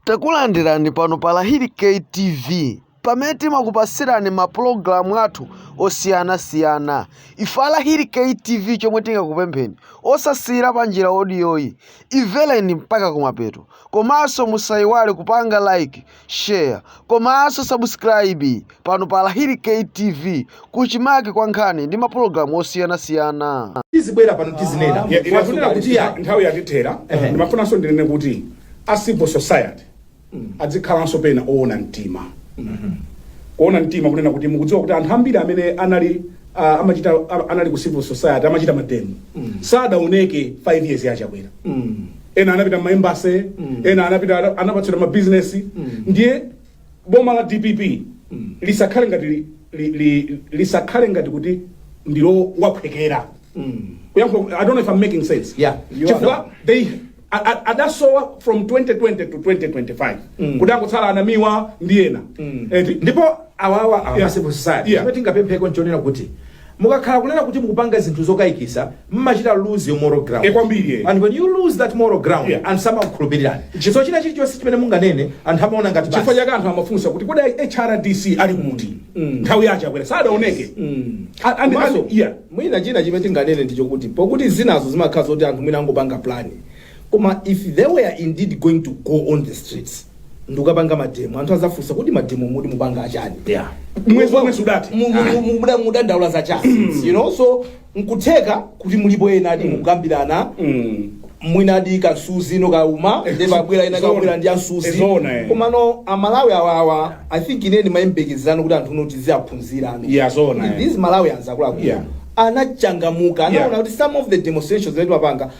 Takulandirani pano pa Lahiri K TV pamene timakupasirani ma program athu osiyana siyana ife a Lahiri K TV chomwe tingakupempheni osasiyira panjira odiyoyi imvereni mpaka kumapeto komanso musayiwale kupanga like share komanso subscribe pano pa Lahiri KTV, kuchimake kwa nkhani ndi mapulogalamu osiyanasiyana. tizibwera pano tizinena Ya- ine watunena kuti nthawi yatithera Ehe. ndimafunanso ndinene kuti a civil society adzikhalanso pena oona mtima kuona mtima kunena kuti mukudziwa kuti anthu ambiri amene anali ah, amachita ah, anali ku civil society amachita mademo sadaoneke 5 years ya Chakwera ena anapita ma embassy ena anapita anapatsidwa mabizinesi ndiye boma la dpp lisakhale ngati li, li, li, lisakhale ngati kuti ndi lowaphwekera kuyankhula i don't know if i'm making sense Yeah, you are. chifukwa they a- a- adasowa from 2020 to 2025 kuti angotsala anamiwa ndi ena eti ndipo awawa Yeah. a ma civil society Yeah. chimene tingapempheko nchonena kuti Mukakhala kunena kuti mukupanga zinthu zokayikisa mumachita lose your moral ground Eh, kwambiri, eh. and when you lose that moral ground Yeah. anthu samakukhulupirirani so china chilichonse chimene munganene anthu amaona ngati chifukwa basi. chake anthu amafunsa kuti kodi hrdc ali kuti nthawi ya Chakwera sadaoneke A- and- Komanso, and- yeah. mwina china chimene tinganene ndi chakuti pokuti zinazo zimakhala zoti anthu mwina angopanga plani koma if they were indeed going to go on the streets ndukapanga mademo anthu azafunsa kuti mademo muti mupanga achani yeah mwezi womwe sudathe Mu- mu- mu- muda- mudandaula za chani you know so nkutheka kuti mulipo ena ati mukukambirana Mm. mwina adi kansuzi no kauma nde babwera ena Zona. kabwera ndi ansuzi Zona, eh. komano amalawi awawa i think ine ndimayembekezerano kuti anthu no tiziwaphunzira ano Yeah, zona, Kuti eh. these malawians akuluakulu Yeah. anachangamuka anaona Yeah. kuti some of the demonstrations that wapanga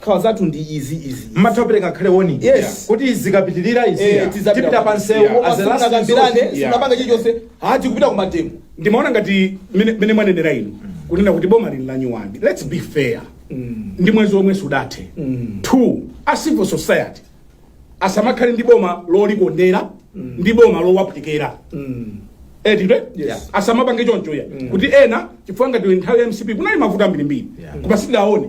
Nkhawa zathu ndi izi izi. mmatha kupereka ngakhale warning Yes. kuti zikapitirira izi Eh, tizapita tipita kwa- pa msewu Yeah. as a last Simunakambirane, resort. Yeah. simunapanga chilichonse. Ah, tikupita ku mademo. ndimaona ngati mene mene mwanenera inu kunena kuti boma lili lanyowani let's be fair ndi mwezi omwe sudathe two a civil society asamakhale ndi boma lolikondera ndi boma lowaphwekera etidwe Yes. asamapange choncho ya kuti ena chifukwa ngati nthawi ya mcp kunali mavuto ambirimbiri Yeah. koma sitidaone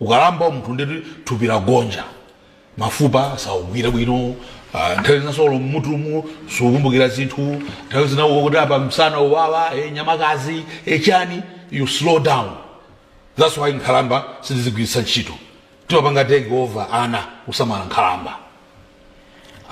Ukalamba munthu ndeti thupi lagonja, mafupa saugwira bwino, ah, nthawi zina so mmutumu sukumbukira zinthu, nthawi zina uko kuti apa msana uwawa, eh, nyamakazi, eh, chani, you slow down. That's why nkhalamba sitizigwiritsa ntchito. Timapanga take over ana kusamala nkhalamba.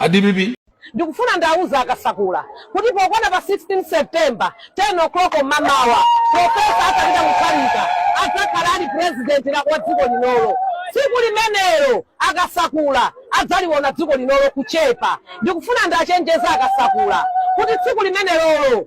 A DPP Ndikufuna ndiwauze a Kasakula kuti pokwana pa 16 September, 10:00 mamawa, Prof. Arthur Peter Mutharika adzakhala ali President la wa dziko linolo. Tsiku limenelo a Kasakula adzaliwona dziko linolo kuchepa. Ndikufuna ndiwachenjeze a Kasakula kuti tsiku limenelolo.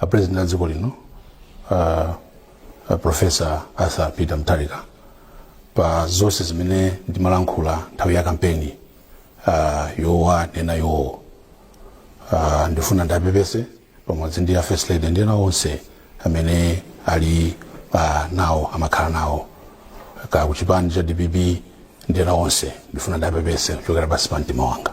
a president a dziko lino uh, a professor arthur peter mutharika pa zonse zimene ndimalankhula nthawi ya kampeni uh, yowa nena yowo uh, ndifuna ndipepese pamodzi ndi a first lady ndi ena onse amene ali uh, nawo amakhala nawo ka kuchipani cha dpp ndi ena onse ndifuna ndipepese kuchokera pansi pa mtima wanga